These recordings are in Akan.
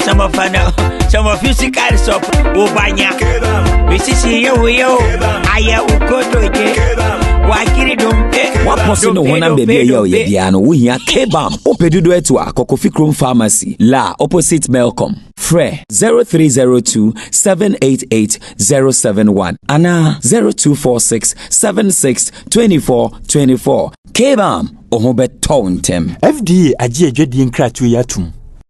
Some of I know, some of you see cards up, Ubanya. We see see you, we yo, Aya Ukoto, Wakiri Dumpe. wapɔ so ne honam baabi a ɛyɛ a ɔyɛ biara no wohia kbam wopɛ dodo atu a kɔkɔfi krom pharmacy la opposite melcom frɛ 0302 788 071 anaa 0246 76 24 24 kbam ɔho bɛtɔw ntɛm fda agye adwadie nkratoɔ yi atom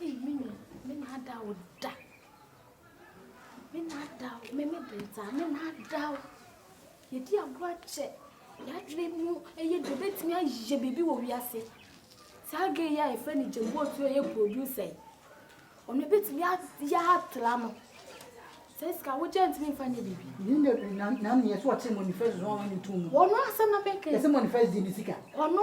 Ei me nua me naadaa wo da me naadaa wo me me bere dza me naadaa wo yɛdi agorɔ akyɛ yɛadwene mu ɛyɛ dɛ bɛtumi ayɛ biribi wɔ wiase saa gɛ yi a yɛfrɛ no gyambuo so ɛyɛ producer yi ɔno bɛtumi ayɛ atra no sɛ sika wogyɛ ntumi mfa nyɛ biribi na neɛ sɛ ɔkyere manifest so ɔne ne tom mu ɔno asɛm na mɛka ɛsɛ manifest di ne sika ɔno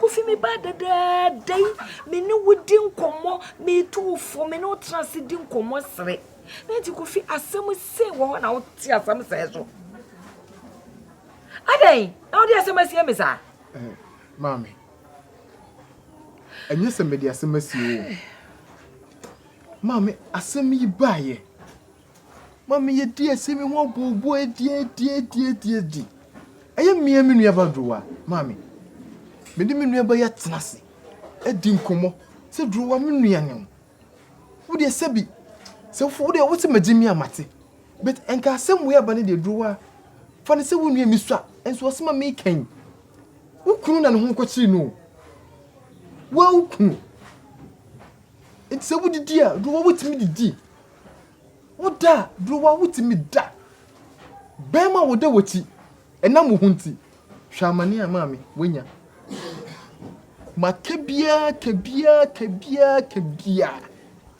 Kofi me ba dadaada yi me ne wo di nkɔmmɔ metu wo fo me ne wo tena ase di nkɔmmɔ sere na nti Kofi asɛm se wɔ hɔ na wo te asɛm sɛ so adɛn na wode asɛm asie me saa eh, maame ɛnyɛ sɛ mede asɛm asie o maame asɛm yi baayɛ Ma me yɛ di esi me ho bu bu edi edi edi edi edi. Ɛyɛ mmea me nua ba durowa maame. Me de me nua ba yɛ tena se. Edi nkomo se durowa me nua ne ho. Wo de se bi se wo de wo se ma gyi me a mate. But enka asem wei aba ne de durowa fa ne se wo nua me sua nso ɔse ma me kan. Wo kunu na ne ho kɔ kyiri no. Wo a wo kunu. Enti se wo didi a durowa wo timi didi. Wo da a, Browa wo tumi da. Bɛɛma wo da wakyi, ɛnam wo ho nti. Hwɛ amane a maame wanya. Ma ka biaa, ka biaa, ka biaa, ka biaa.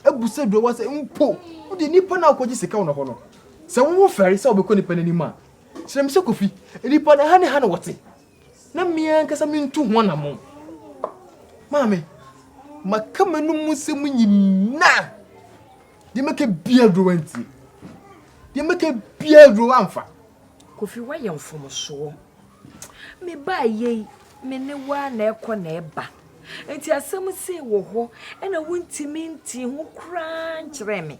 Abu sɛ Browa sɛ mpo wo deɛ nipa no a wokɔgye sika wɔ ne hɔ no, sɛ wo wo fɛre sɛ wobɛkɔ nipa no anim a, kyerɛ me sɛ Kofi, nipa no ha ne ha na wɔte. na me ankasa mentu ho anammɔn. Maame, maka m'anom mu nsɛm nyinaa. Deɛ mɛka biara aduro wantie. Deɛ mɛka biara aduro wamfa. Kofi woayɛ mfomsoɔ. Me ba yei, me ne wo a na ɛkɔ na ɛba. Nti asɛm sei wɔ hɔ, ɛna wontumi nti ho koraa nkyerɛɛ me.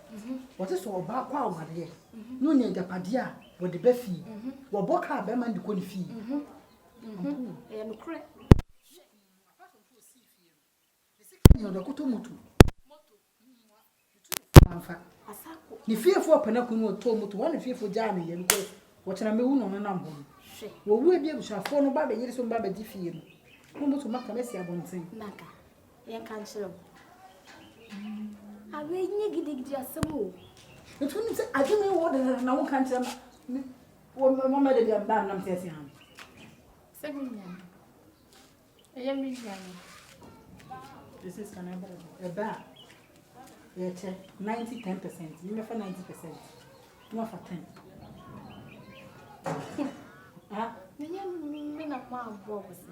Wɔte sɛ ɔbaa kɔ awareɛ na ɔnya agyapadeɛ a wɔde ba fie. Wɔbɔ kaa bɛrima no de kɔ ne fie. Ɛyɛ nokorɛ. Nea ɔde kɔtɔ moto, amfa. Ne fiefoɔ pɛ no ako no ɔtɔɔ moto, wɔn ne fiefoɔ gyaa no yɛ no kɔ. Wɔkyena mɛwu na ɔno nam hɔ no. Wɔwu ebi abusuafoɔ no ba bɛyere so mba bɛgye fie no. Na moto maka mɛsi abɔnten. Yɛn ka nkyerɛ wo. Awe nye gidigidi asɛm o. Nti nim sɛ adwene yi wɔ dɛdɛ na wo nka nkyerɛ ma. Wɔ mɛ mɔ mɛ de bi a mbaa nam sɛ ɛsɛ ha. Sɛ me nua no. Ɛyɛ me nua no. This is kana ɛbɛ ɛbɛ a. Yɛ kyɛ 90 10 percent. Mɛ fa 90 percent. Mɛ fa 10. Ha? Mɛ nyɛ mɛ na mɔ aboɔ wɔ sɛ.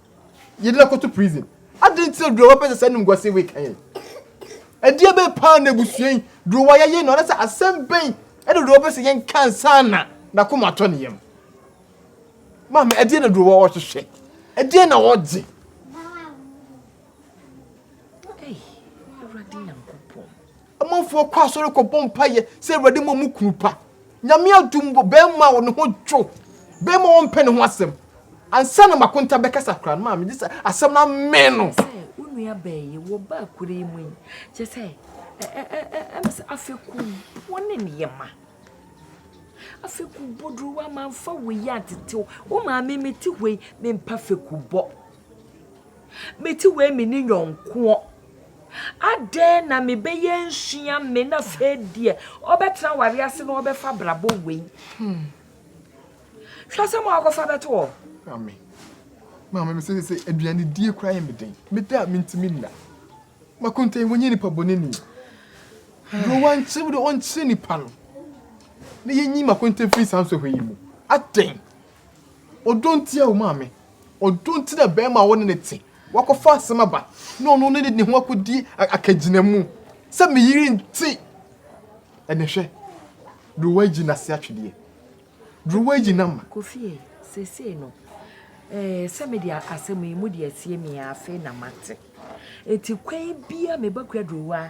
Yɛde no akɔto prison. Adɛn nti na Durowa pɛ sɛ saa animguaseɛ wei ka yɛn? Ɛdeɛ bɛn paa na abusua yi Durowa yɛyɛ no anasɛ asɛm bɛn ɛna Durowa pɛ sɛ yɛnka nsa na n'akoma atɔ ne yam? Maame, ɛdeɛ na Durowa ɔhwehwɛ? Ɛdeɛ na ɔgye? Amanfoɔ kɔ asɔre kɔbɔ mpaeɛ sɛ Awurade mmɔ mo kunu pa. Nyame adom wɔ bɛɛma a ne ho dwo, bɛɛma ɔmpɛ ne ho asɛm. Ansa na makonta bɛkasa koraa no maa megye sɛ asɛm no amee no. Sɛ wo nua bɛɛ yi wɔ ba akura yi mu yi, kyɛ sɛ ɛm sɛ afɛku wo ne ne yɛ ma. Afɛku bɔ duru wɔ ama mfa wo yi antetew. Wo maame me te hɔ yi me mpa fɛku bɔ. Me ti wei me ni yɔnkoɔ. Adɛn na me bɛ yɛ nsua me na fɛ deɛ ɔbɛ tena wari ase na ɔbɛ fa brabɔ wei. Hmm. Hwɛ sɛ mo akɔfa bɛ to hɔ. Maame. Maame me sɛ sɛ aduane die kura yɛ me den. Me da me ntumi nna. Makonta yi wɔnyɛ nipa bɔ ne ni. Bro wankye wo de ɔnkye nipa no. Ne yɛ nyi makonta fi saa nsɔhwɛ yi mu. Adɛn. Ɔdɔ nti a wo maame. Ɔdɔ nti na barima a wo ne no te, woakɔfa asɛm aba na ɔno ne ne ho akɔdi akagyinamu sɛ me yere nti. Ɛnɛ hwɛ deɛ woayi n'ase atwedeɛ, deɛ woayi n'ama. Kofie, seesei no, eh, sɛ me deɛ asɛm yi, mode asie me a, afei na mate. Enti kwan biara meba Kwadurowa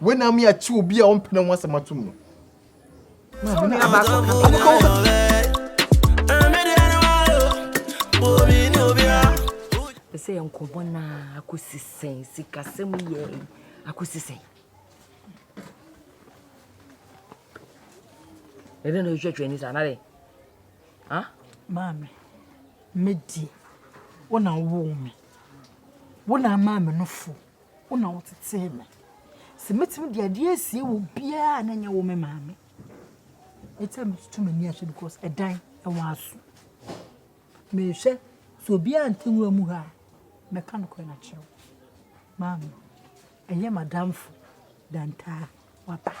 Wei na ama yɛate obi a ɔmpɛ ne ho asɛm atom no. Maame na ama so kasa. Ɛsɛ yɛ nkɔmmɔ na akɔsi sɛn sikasɛm yɛ akɔsi sɛn. Ɛdɛ na ɛhwɛhwɛ ni saa nare. Ha? Maame, mɛdie. Wo na woo me. Wo na ama me no fo. Wo na wotetee me. Sɛ mɛtumi de adeɛ asie wɔ biara a na nyɛ wo me maame. Ɛti a metutu m'ani ahwɛ because ɛdan ɛwɔ aso. Mehwɛ sɛ obiara nte nwura mu ha a mɛka no kɔɛ no akyerɛ wo. Maame, ɛyɛ madamfo dantaa waba.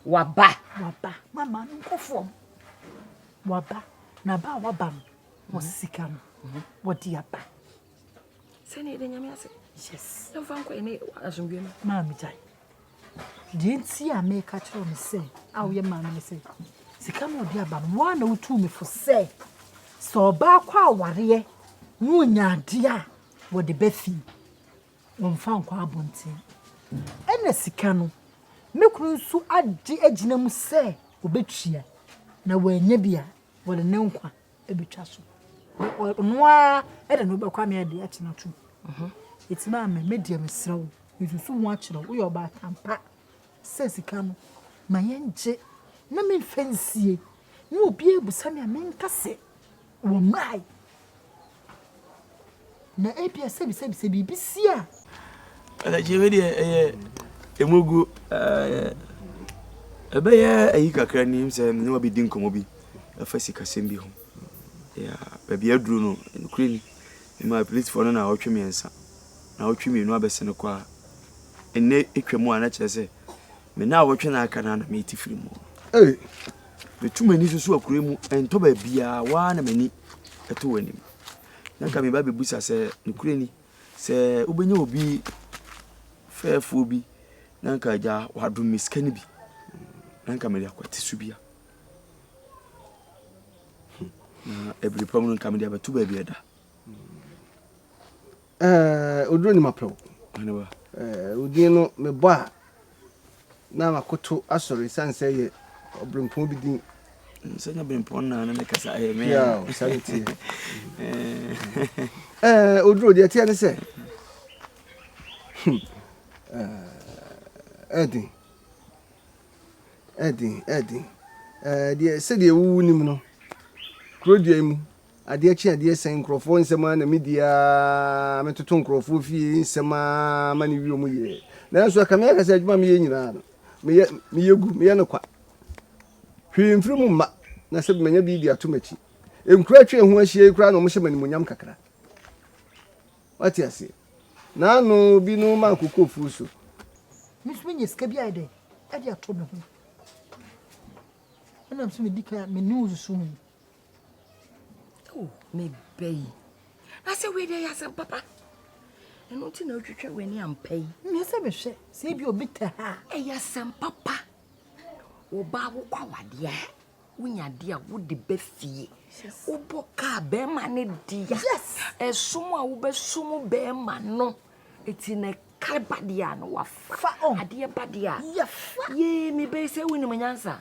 Waba? Waba. Ma maame nkɔ fam. Waba. Na ba a waba no, wɔ sika no, wɔde aba. sɛnea yɛde nyame ase yɛmfa nkɔ yɛne asomdwe no maa megyae deɛ nti a meka kyerɛ me sɛ a woyɛ maa me ne sɛ sika no ɔde aba no woa na wotuu me fo sɛ sɛ ɔbaa kɔ awareɛ na ɔnya adeɛ a wɔde bɛfii wɔmfa nkɔ abɔnten ɛna sika no me kunu nso agye agyina mu sɛ ɔbɛtua na wɔanya bi a wɔde ne nkwa bɛtwa so. Ɔno ara na na wobɛkɔ ama yɛde akyena atom. Ɛti maa me, me deɛ mesrɛ wo, mesusu ho akyerɛ wo, woyɛ ɔbaatan pa sɛ sika no, ma yɛngye na memfa nsie na obiara abusa me a menka sɛ wɔmmae. Na ebia sɛbisɛbi sɛ biribi si a. Ɛnkyɛ wei deɛ ɛyɛ ɛmoguo. Ɛbɛyɛ ayi kakra ni sɛ me ne wabɛdi nkɔmmɔ bi ɛfa sikasɛm bi ho. Baabi aduru no, nokorɛ ni, memaa polisifoɔ no naawɔtwe mmiɛnsa, naawɔtwe mmienu abɛse no kɔ a, ɛnnɛ ɛtwa mu a na kyerɛ sɛ me naawɔtwe na aka no na mete firi mu. Hey. Metu m'ani so so akura mu, ɛntɔ baabiara, waa na m'ani ɛto w'anim. na nka meba abɛbisa sɛ, nokorɛ ni, sɛ wobɛnya obi fɛɛfoɔ bi na nka agya wadom me sika no bi na nka mede akwate so bia na ɛbiri pa mu no nka mede abɛto baabi ɛda ɔduro ni mapɛw odin no mebɔ a na makoto asɔre esiane sɛ yɛ ɔberempɔn bi din. Sɛ nyɛ berempɔn na ne ne kasa ayɛ me. Yaw, saa ne teɛ. Ɛɛ, oduro deɛ ɛteɛ ne sɛ, ɛden, ɛden, ɛden. Ɛɛ, deɛ sɛdeɛ wowu nim no, kuro dua yi mu Adeɛ kye adeɛ sɛn nkurɔfoɔ nsɛm ara na medi ara metoto nkurɔfoɔ fie nsɛm ara ma no wie wɔn yie. Nanso ɛka me aka sɛ adwuma a meyɛ nyinaa no, meyɛ meyɛ gu, meyɛ no kwa. Hwee mfiri mu mma na sɛ manya bi de ato m'akyi. Nkuro a atwa yɛn ho ahyia yi koraa na wɔhyɛ me animuonyam kakra. Wate aseɛ? Naano bi no ma akokɔ afuo so. Me nso menya sika bi ayɛ dɛn de atɔ me ho. Ɛnam sɛ medi kan a me ne wo susu ho Oh, me baby. I said we there, yes, papa. And until now, you try when I'm pay. Me say me say, say be obita ha. Eh, yes, papa. Oba wo kwa wadia. Unya dia wo de be fie. Obo ka be mane dia. Yes. Esumu a wo be sumu be mano. Eti ne kalba dia no wafa. Fa on. Adia ba dia. Yafa. Ye me be say wini manyansa.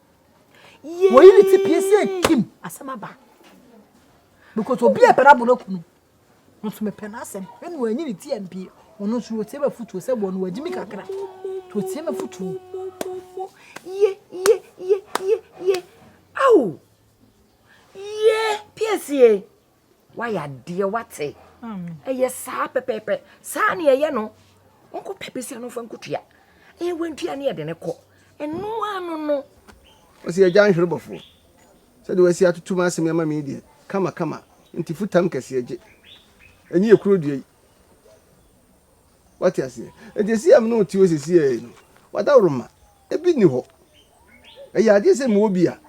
wɔyi ne ti pie sɛ kim asɛm aba because obi a ɛbɛrɛ abono kunu nso mepɛ n'asɛm ɛna wɔanyi ne ti ampie ɔno nso wɔtie mafutuo sɛ wɔn wɔagye mi kakra nti wɔtie mafutuo ye ye ye ye ye ao ye piesie Wayɛ adeɛ wate. Ɛyɛ saa pɛpɛɛpɛ. Saa ne ɛyɛ no. Ɔnkɔ pɛ bɛsi ano fa nkutua. Ɛyɛ wantua ne yɛde ne kɔ. Ɛno ano no. Ɔsi agya nhwere bɔfoɔ. Sɛdeɛ wasi atoto mu asɛm yi ama me yi deɛ kama kama nti futam kɛseɛ gye. Ɛnye yɛ kuro dua yi. Wate aseɛ. Nti ɛsi a me ne wo te hɔ sesiei no wadaworo ma. Ɛbi nni hɔ. Ɛyɛ adeɛ sɛ mewɔ bi a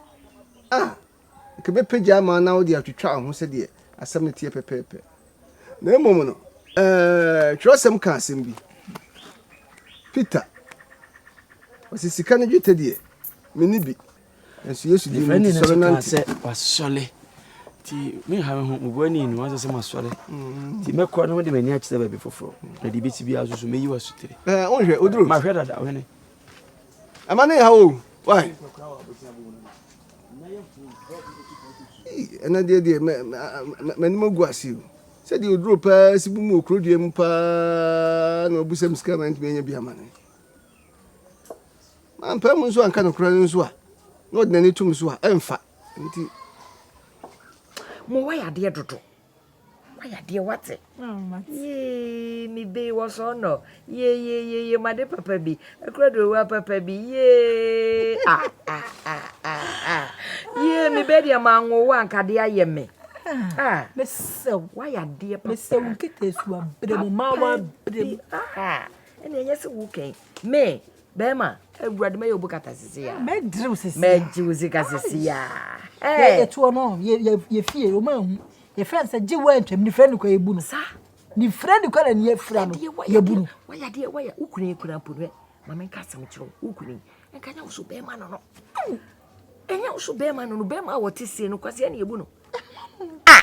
ah. Nka ɛbɛpagya ama wo na wode atwitwa wo ho sɛdeɛ asɛm no teɛ pɛpɛɛpɛ. Na mmom no, ɛɛ, twerɛsɛm ka asɛm bi. Peter, ɔsɛ sika ne dwetɛ deɛ, menni bi. Nanso Yesu dii mu nti sɔre nante. sɛ wasɔre. Nti menha me ho, mebua ne enu, wansɛ sɛ masɔre. Mm. Nti mɛkɔ na mede m'ani akyerɛ baabi foforɔ. Na deɛ bɛsi biara so so mɛyi w'asotire. Wonhwɛ, woduru. Mahwɛ dada, ɔhene. ɛma ne yaw o wai ɛnɛ deɛ deɛ m'anim agu ase o sɛdeɛ ɔduro paa si bu mu wɔ kuro dua mu paa na ɔbusam sika ma ntumi anya bi ama ne mampɛ mu nso anka nokora no nso a na ɔde n'ani tom so a ɛmfa nti mowɔ yɛ adeɛ dodo Wayɛ adeɛ wate. Yee me bee wɔ sɔɔ nɔ. Yee yee yee yee made papa bi. Ɛkura do wa papa bi. Yee ah ah ah ah ah. Yee me bee deɛ ma ngo wa nkade ayɛ me. Ah. Mesɛ wo. Wayɛ adeɛ papa. Mesɛ wo nkete esu abere mu ma wa abere mu. Ah. Ɛna ɛnyɛ sɛ wo kɛn. Me. Bɛɛma, Awurade mɛyɛ obu kata sisi ya. Mɛdiriw sisi ya. Mɛgyiw sika sisi ya. Yɛ yɛ tuo no yɛ yɛ yɛ fie o ma hu. Yɛ fɛn sɛ gye wɔ ntwam ni fɛn ni kɔ yɛ bu no. Sa. Ni fɛn ni kɔ na ni yɛ fira no yɛ bu no. Wɔyɛ adeɛ wɔyɛ ukuni ekura mpo no. Maame nka asɛm kyerɛ wo ukuni. Nka nya woso bɛɛma no no. Ɛnyɛ woso bɛɛma no no bɛɛma a wɔte sie no kwasi ɛna yɛ bu no. Ah.